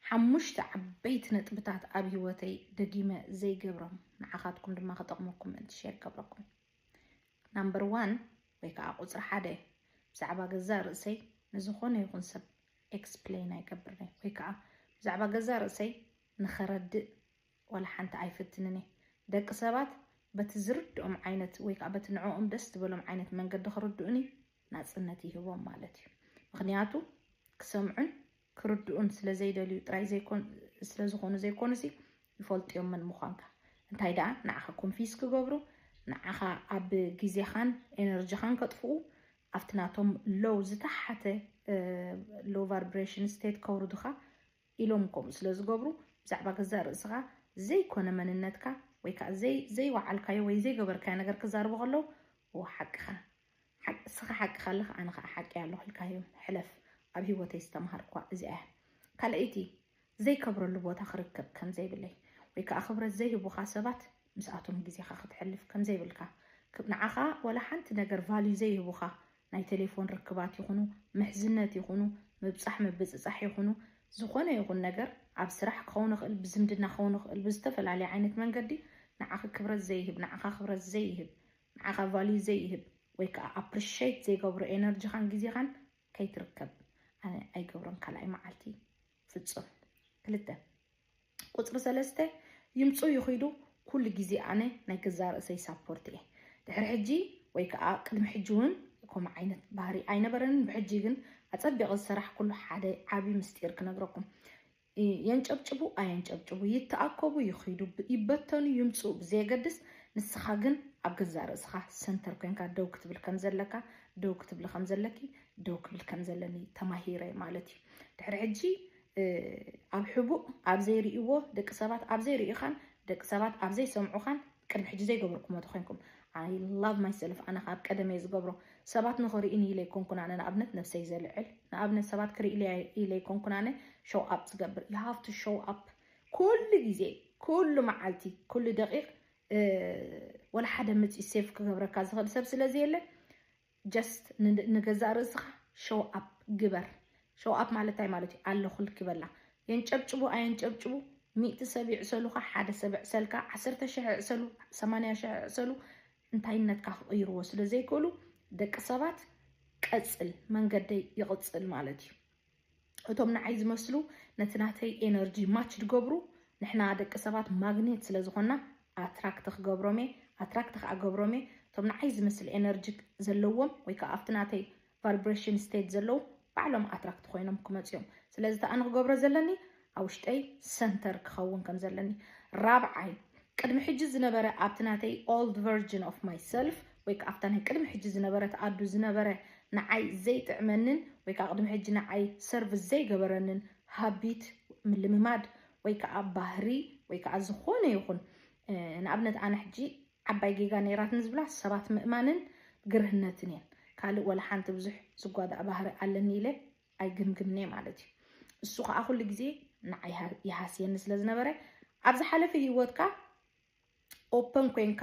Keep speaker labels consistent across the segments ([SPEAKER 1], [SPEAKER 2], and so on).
[SPEAKER 1] ሓሙሽተ ዓበይቲ ነጥብታት ኣብ ሂወተይ ደጊመ ዘይገብሮም ንዓኻትኩም ድማ ክጠቕመኩም ምእንቲ ሼር ገብረኩም ናምበር ዋን ወይ ከዓ ቁፅሪ ሓደ ብዛዕባ ገዛእ ርእሰይ ንዝኾነ ይኹን ሰብ ኤክስፕሌን ኣይገብርንይ ወይ ከዓ ብዛዕባ ገዛእ ርእሰይ ንኸረድእ ዋላ ሓንቲ ኣይፍትንን እየ። ደቂ ሰባት በቲ ዝርድኦም ዓይነት ወይ ከዓ በቲ ንዕኦም ደስ ዝበሎም ዓይነት መንገዲ ክርድኡኒ ናፅነት ይህቦም ማለት እዩ። ምክንያቱ ክሰምዑን ክርድኡን ስለዘይደልዩ ጥራይ ስለዝኾኑ ዘይኮኑሲ ይፈልጥዮም መን ምዃንካ። እንታይ ደኣ ንዓኻ ኮንፊስ ክገብሩ ንዓኻ ኣብ ግዜኻን ኤነርጂኻን ከጥፍኡ ኣብቲ ናቶም ሎው ዝተሓተ ሎው ቫርብሬሽን ስቴት ከውርዱኻ ኢሎም ከምኡ ስለ ዝገብሩ ብዛዕባ ገዛእ ርእስኻ ዘይኮነ መንነትካ ወይ ከዓ ዘይወዓልካዮ ወይ ዘይገበርካዮ ነገር ክዛርቡ ከለው እዎ ሓቅኻ እስኻ ሓቅኻ ኣለኻ ኣነ ከዓ ሓቂ ኣለኹ ኢልካዮ ሕለፍ ኣብ ሂወተይ ዝተምሃርክዋ እዚኣ እያ ካልኣይቲ ዘይከብረሉ ቦታ ክርከብ ከም ዘይብለይ ወይ ከዓ ክብረት ዘይህቡኻ ሰባት ምስኣቶም ግዜኻ ክትሕልፍ ከም ዘይብልካ ንዓኻ ዋላ ሓንቲ ነገር ቫልዩ ዘይህቡኻ ናይ ቴሌፎን ርክባት ይኹኑ፣ ምሕዝነት ይኹኑ፣ ምብጻሕ ምብጽጻሕ ይኹኑ፣ ዝኾነ ይኹን ነገር፣ ኣብ ስራሕ ክኸውን ይኽእል፣ ብዝምድና ክኸውን ይኽእል፣ ብዝተፈላለየ ዓይነት መንገዲ ንዓኺ ክብረት ዘይህብ፣ ንዓኻ ክብረት ዘይህብ፣ ንዓኻ ቫልዩ ዘይህብ ወይ ከኣ ኣፕሪሸይት ዘይገብሮ ኤነርጂኻን ግዜኻን ከይትርከብ ኣነ ኣይገብሮን ካልኣይ መዓልቲ ፍጹም ክልተ። ቁፅሪ ሰለስተ ይምፁ ይኺዱ ኩሉ ግዜ ኣነ ናይ ገዛ ርእሰይ ሳፖርት እየ ድሕሪ ሕጂ ወይ ከዓ ቅድሚ ሕጂ እውን ከምኡ ዓይነት ባህሪ ኣይነበረንን ብሕጂ ግን ኣፀቢቐ ዝሰራሕኩሉ ሓደ ዓብዪ ምስጢር ክነግረኩም የንጨብጭቡ ኣየንጨብጭቡ ይተኣከቡ ይኽዱ ይበተኑ ይምፁ ብዘየገድስ ንስኻ ግን ኣብ ገዛ ርእስኻ ሰንተር ኮንካ ደው ክትብል ከም ዘለካ ደው ክትብል ከም ዘለኪ ደው ክብል ከም ዘለኒ ተማሂረ ማለት እዩ ድሕሪ ሕጂ ኣብ ሕቡእ ኣብ ዘይርእይዎ ደቂ ሰባት ኣብ ዘይርእዩኻን ደቂ ሰባት ኣብ ዘይሰምዑኻን ቅድሚ ሕጂ ዘይገብርኩሞ ተኾይንኩም ኣይ ላቭ ማይ ሰልፍ ኣነ ካብ ቀደም እየ ዝገብሮ ሰባት ንኽርእዩኒ ኢለ ኣይኮንኩን ኣነ ንኣብነት ነብሰይ ዘልዕል ንኣብነት ሰባት ክርእይለያ ኢለ ኣይኮንኩን ኣነ ሾው ኣፕ ዝገብር ዩ ሃቭ ቱ ሾው ኣፕ ኩሉ ግዜ ኩሉ መዓልቲ ኩሉ ደቂቕ ወላ ሓደ መፂኡ ሴፍ ክገብረካ ዝኽእል ሰብ ስለዘየለ ጀስት ንገዛእ ርእስኻ ሸው ኣፕ ግበር። ሸው ኣፕ ማለት እንታይ ማለት እዩ? ኣለኹልኪ በላ። የንጨብጭቡ ኣየንጨብጭቡ ሚእቲ ሰብ ይዕሰሉኻ፣ ሓደ ሰብ ይዕሰልካ፣ ዓሰርተ ሽሕ ይዕሰሉ፣ ሰማንያ ሽሕ ይዕሰሉ እንታይነትካ ክቕይርዎ ስለ ዘይክእሉ ደቂ ሰባት ቀጽል መንገደይ ይቕጽል ማለት እዩ። እቶም ንዓይ ዝመስሉ ነቲ ናተይ ኤነርጂ ማች ዝገብሩ ንሕና ደቂ ሰባት ማግኔት ስለ ዝኾና ኣትራክት ክገብሮም እየ ኣትራክት ከዓ ገብሮም እየ እቶም ንዓይ ዝመስል ኤነርጂ ዘለዎም ወይ ከዓ ኣብቲ ናተይ ቫይብሬሽን ስቴት ዘለዉ ባዕሎም ኣትራክት ኮይኖም ክመፁ እዮም ስለዚ ተኣ ንክገብሮ ዘለኒ ኣብ ውሽጠይ ሰንተር ክኸውን ከም ዘለኒ። ራብዓይ፣ ቅድሚ ሕጂ ዝነበረ ኣብቲ ናተይ ኦልድ ቨርጅን ኦፍ ማይ ሰልፍ ወይ ከኣ ኣብታ ናይ ቅድሚ ሕጂ ዝነበረት ኣዱ ዝነበረ ንዓይ ዘይጥዕመንን ወይ ከኣ ቅድሚ ሕጂ ንዓይ ሰርቭ ዘይገበረንን ሃቢት፣ ምልምማድ፣ ወይ ከኣ ባህሪ ወይ ከኣ ዝኾነ ይኹን ንኣብነት ኣነ ሕጂ ዓባይ ጌጋ ነይራትኒ ዝብላ ሰባት ምእማንን ግርህነትን እየን። ካልእ ወላ ሓንቲ ብዙሕ ዝጓዳእ ባህሪ ኣለኒ ኢለ ኣይግምግምን'የ ማለት እዩ። እሱ ከኣ ኩሉ ግዜ ንዓይ ይሃስየኒ ስለ ዝነበረ ኣብ ዝሓለፈ ሂወትካ ኦፐን ኮንካ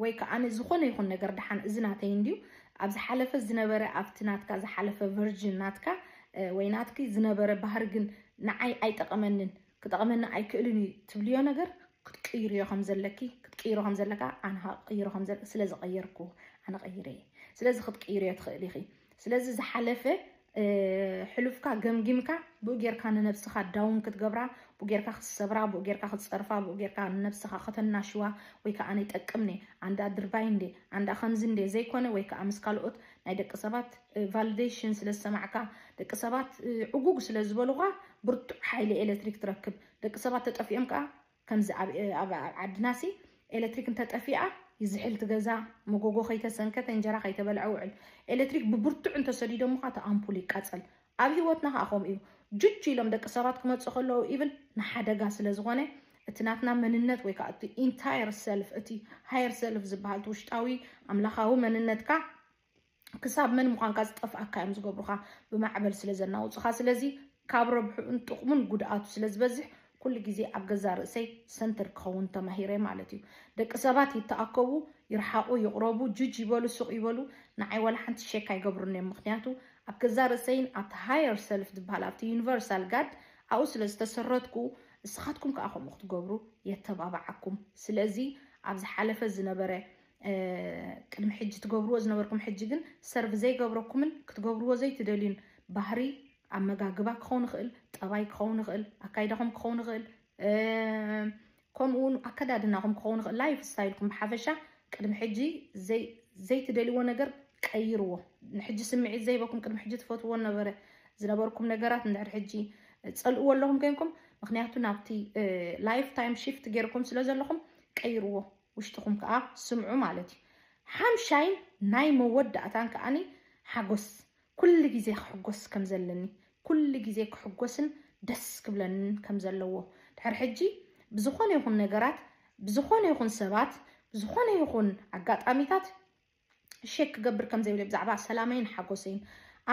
[SPEAKER 1] ወይ ከዓ ዝኾነ ይኹን ነገር ድሓን እዚ ናተይ እንድዩ ኣብ ዝሓለፈ ዝነበረ ኣብቲ ናትካ ዝሓለፈ ቨርጅን ናትካ ወይ ናትኪ ዝነበረ ባህሪ ግን ንዓይ ኣይጠቐመንን ክጠቕመና ኣይክእልን እዩ ትብልዮ ነገር ክትቅይርዮ ከም ዘለኪ ክትቅይሮ ከም ዘለካ ኣነ ከዓ ክቅይሮ ከም ዘለ ስለ ዝቐየርኩ ኣነ ቀይረ እየ ስለዚ ክትቅይርዮ ትኽእል ኢኺ ስለዚ ዝሓለፈ ሕሉፍካ ገምጊምካ ብኡ ጌርካ ንነብስኻ ዳውን ክትገብራ ብኡ ጌርካ ክትሰብራ ብኡ ጌርካ ክትፀርፋ ብኡ ጌርካ ንነብስኻ ከተናሽዋ ወይ ከዓ ነይጠቅም ኔ ኣንዳ ድርባይ እንዴ ኣንዳ ከምዚ እንዴ ዘይኮነ ወይ ከዓ ምስ ካልኦት ናይ ደቂ ሰባት ቫልደሽን ስለ ዝሰማዕካ ደቂ ሰባት ዕጉግ ስለ ዝበሉኻ ብርቱዕ ሓይሊ ኤለትሪክ ትረክብ ደቂ ሰባት ተጠፊኦም ከኣ ከምዚ ኣብ ዓድናሲ ኤለትሪክ እንተጠፊኣ ይዝሕል እቲ ገዛ መጎጎ ከይተሰንከተ እንጀራ ከይተበልዐ ውዕል ኤለትሪክ ብብርቱዕ እንተሰዲዶሙኻ እቲ ኣምፑል ይቃጸል ኣብ ሂወትና ከኣ ከምኡ እዩ ጁጅ ኢሎም ደቂ ሰባት ክመጹ ከለዉ ኢቭን ንሓደጋ ስለ ዝኾነ እቲ ናትና መንነት ወይ ከኣ እቲ ኢንታየር ሰልፍ እቲ ሃየር ሰልፍ ዝበሃል እቲ ውሽጣዊ ኣምላኻዊ መንነትካ ክሳብ መን ምዃንካ ዝጠፍኣካ እዮም ዝገብሩኻ ብማዕበል ስለ ዘናውፁኻ ስለዚ ካብ ረብሕኡን ጥቕሙን ጉድኣቱ ስለ ዝበዝሕ ኩሉ ግዜ ኣብ ገዛ ርእሰይ ሰንትር ክኸውን ተማሂረ ማለት እዩ ደቂ ሰባት ይተኣከቡ ይርሓቑ ይቕረቡ ጁጅ ይበሉ ሱቕ ይበሉ ንዓይ ዋላ ሓንቲ ሸክ ኣይገብሩን እዮም ምክንያቱ ኣብ ገዛ ርእሰይን ኣብቲ ሃየር ሰልፍ ዝበሃል ኣብቲ ዩኒቨርሳል ጋድ ኣብኡ ስለ ዝተሰረትኩ ንስኻትኩም ከዓ ከምኡ ክትገብሩ የተባባዓኩም ስለዚ ኣብ ዝሓለፈ ዝነበረ ቅድሚ ሕጂ ትገብርዎ ዝነበርኩም ሕጂ ግን ሰርቭ ዘይገብረኩምን ክትገብርዎ ዘይትደልዩን ባህሪ ኣመጋግባ ክኸውን ይኽእል፣ ጠባይ ክኸውን ይኽእል፣ ኣካይዳኹም ክኸውን ይኽእል፣ ከምኡ እውን ኣከዳድናኹም ክኸውን ይኽእል፣ ላይፍ ስታይልኩም ብሓፈሻ ቅድሚ ሕጂ ዘይትደልይዎ ነገር ቀይርዎ። ንሕጂ ስምዒት ዘይበኩም ቅድሚ ሕጂ ትፈትዎ ነበረ ዝነበርኩም ነገራት ንድሕሪ ሕጂ ፀልእዎ ኣለኹም ኮይንኩም ምክንያቱ ናብቲ ላይፍ ታይም ሽፍት ገይርኩም ስለ ዘለኹም ቀይርዎ። ውሽጥኹም ከኣ ስምዑ ማለት እዩ። ሓምሻይን ናይ መወዳእታን ከኣ ሓጎስ፣ ኩሉ ግዜ ክሕጎስ ከም ዘለኒ፣ ኩሉ ግዜ ክሕጎስን ደስ ክብለንን ከም ዘለዎ፣ ድሕሪ ሕጂ ብዝኾነ ይኹን ነገራት፣ ብዝኾነ ይኹን ሰባት፣ ብዝኾነ ይኹን ኣጋጣሚታት፣ ሼክ ክገብር ከም ዘይብለይ ብዛዕባ ሰላመይን ሓጎሰይን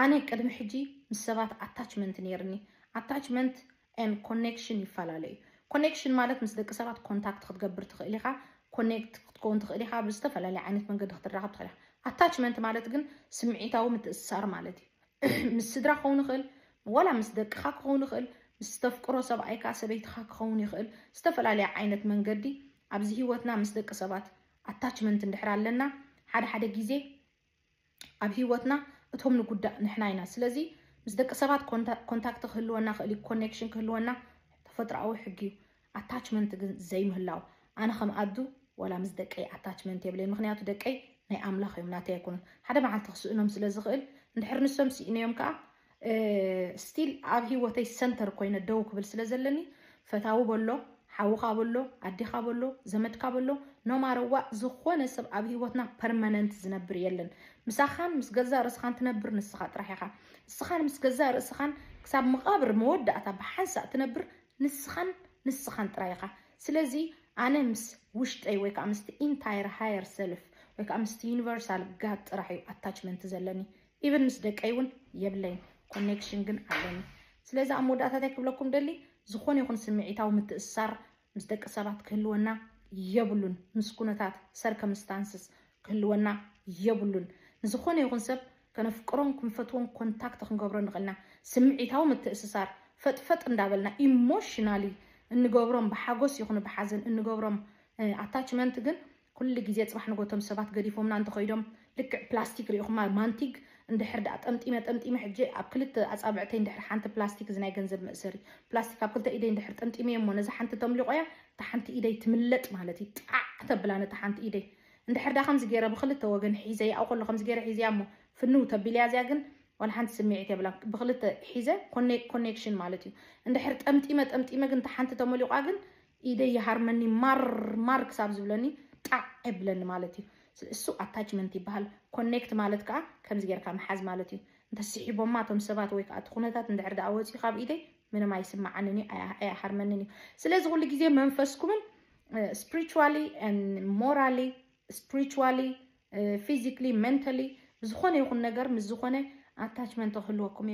[SPEAKER 1] ኣነ ቅድሚ ሕጂ ምስ ሰባት ኣታችመንት ነይርኒ ኣታችመንት ን ኮኔክሽን ይፈላለ እዩ ኮኔክሽን ማለት ምስ ደቂ ሰባት ኮንታክት ክትገብር ትኽእል ኢኻ ኮኔክት ክትከውን ትኽእል ኢኻ ብዝተፈላለየ ዓይነት መንገዲ ክትራኸብ ትኽእል ኢኻ ኣታችመንት ማለት ግን ስምዒታዊ ምትእስሳር ማለት እዩ ምስ ስድራ ክኸውን ይኽእል ወላ ምስ ደቅኻ ክኸውን ይኽእል ምስ ዝተፍቅሮ ሰብኣይካ ሰበይትኻ ክኸውን ይኽእል ዝተፈላለየ ዓይነት መንገዲ ኣብዚ ሂወትና ምስ ደቂ ሰባት ኣታችመንት እንድሕር ኣለና ሓደ ሓደ ግዜ ኣብ ሂወትና እቶም ንጉዳእ ንሕና ኢና ስለዚ ምስ ደቂ ሰባት ኮንታክት ክህልወና ክእል እዩ ኮኔክሽን ክህልወና ተፈጥሮኣዊ ሕጊ እዩ ኣታችመንት ግን ዘይምህላው ኣነ ከም ኣዱ ወላ ምስ ደቀይ ኣታችመንት የብለይ ምክንያቱ ደቀይ ናይ ኣምላኽ እዮም ናተይ ኣይኮኑን ሓደ መዓልቲ ክስእኖም ስለ ዝኽእል እንድሕር ንሶም ስኢነዮም ከዓ ስቲል ኣብ ሂወተይ ሰንተር ኮይነ ደው ክብል ስለ ዘለኒ ፈታዊ በሎ ሓውካ በሎ ኣዴካ በሎ ዘመድካ በሎ ኖማረ ዋእ ዝኮነ ሰብ ኣብ ሂወትና ፐርመነንት ዝነብር የለን ምሳካን ምስ ገዛእ ርእስካን ትነብር ንስካ ጥራሕ ኢካ ንስካን ምስ ገዛእ ርእስካን ክሳብ መቃብር መወዳእታ ብሓንሳእ ትነብር ንስካን ንስካን ጥራይ ኢካ ስለዚ ኣነ ምስ ውሽጠይ ወይ ከዓ ምስቲ ኢንታየር ሃየር ሰልፍ ወይ ከዓ ምስቲ ዩኒቨርሳል ጋድ ጥራሕ እዩ ኣታችመንት ዘለኒ ኢቭን ምስ ደቀይ እውን የብለይን ኮኔክሽን ግን ኣለኒ። ስለዚ ኣብ መወዳእታ እንታይ ክብለኩም ደሊ ዝኾነ ይኹን ስምዒታዊ ምትእስሳር ምስ ደቂ ሰባት ክህልወና የብሉን። ምስ ኩነታት ሰርከምስታንስስ ክህልወና የብሉን። ንዝኾነ ይኹን ሰብ ከነፍቅሮን ክንፈትዎን ኮንታክት ክንገብሮ ንኽእል ኢና። ስምዒታዊ ምትእስሳር ፈጥፈጥ እንዳበልና ኢሞሽናሊ እንገብሮም ብሓጎስ ይኹን ብሓዘን እንገብሮም ኣታችመንት ግን ኩሉ ግዜ ጽባሕ ንጎ እቶም ሰባት ገዲፎምና እንተኸይዶም ልክዕ ፕላስቲክ ሪኢኹማ ማንቲግ እንድሕር ድኣ ጠምጢመ ጠምጢመ ሕጂ ኣብ ክልተ ኣጻብዕተይ እንድሕር ሓንቲ ፕላስቲክ እዚ ናይ ገንዘብ መእሰሪ ፕላስቲክ ኣብ ክልተ ኢደይ እንድሕር ጠምጢመዮ እሞ ነዛ ሓንቲ ተምሊቖያ እታ ሓንቲ ኢደይ ትምለጥ ማለት እዩ ጣዕ ተብላ ነታ ሓንቲ ኢደይ እንድሕር ድኣ ከምዚ ገይረ ብኽልተ ወገን ሒዘያ ኣብኡ ከሎ ከምዚ ገይረ ሒዘያ እሞ ፍንው ተቢለያ እዚኣ ግን ዋላ ሓንቲ ስምዒት የብላ ብኽልተ ሒዘ ኮኔክሽን ማለት እዩ እንድሕር ጠምጢመ ጠምጢመ ግን እታ ሓንቲ ተመሊቋ ግን ኢደይ ይሃርመኒ ማር ማር ክሳብ ዝብለኒ ጣዕ የብለኒ ማለት እዩ። እሱ ኣታችመንት ይበሃል። ኮኔክት ማለት ከዓ ከምዚ ጌርካ ምሓዝ ማለት እዩ። እንተስሒቦማ እቶም ሰባት ወይ ከዓ እቲ ኩነታት እንድሕር ደኣ ወፂኡ ካብ ኢደይ ምንም ኣይስማዓንን እዩ፣ ኣያ- ኣይሃርመንን እዩ። ስለዚ ኩሉ ግዜ መንፈስኩምን ስፕሪቹዋሊ ሞራሊ ስፕሪቹዋሊ ፊዚክሊ መንተሊ ብዝኾነ ይኹን ነገር ምስ ዝኾነ ኣታችመንት ክህልወኩም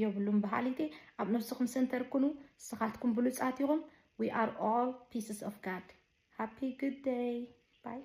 [SPEAKER 1] የብሉን በሃሊቲ ኣብ ነብስኹም ሰንተር ኩኑ ንስኻትኩም ብሉፃት ኢኹም we are all pieces of God happy good day bye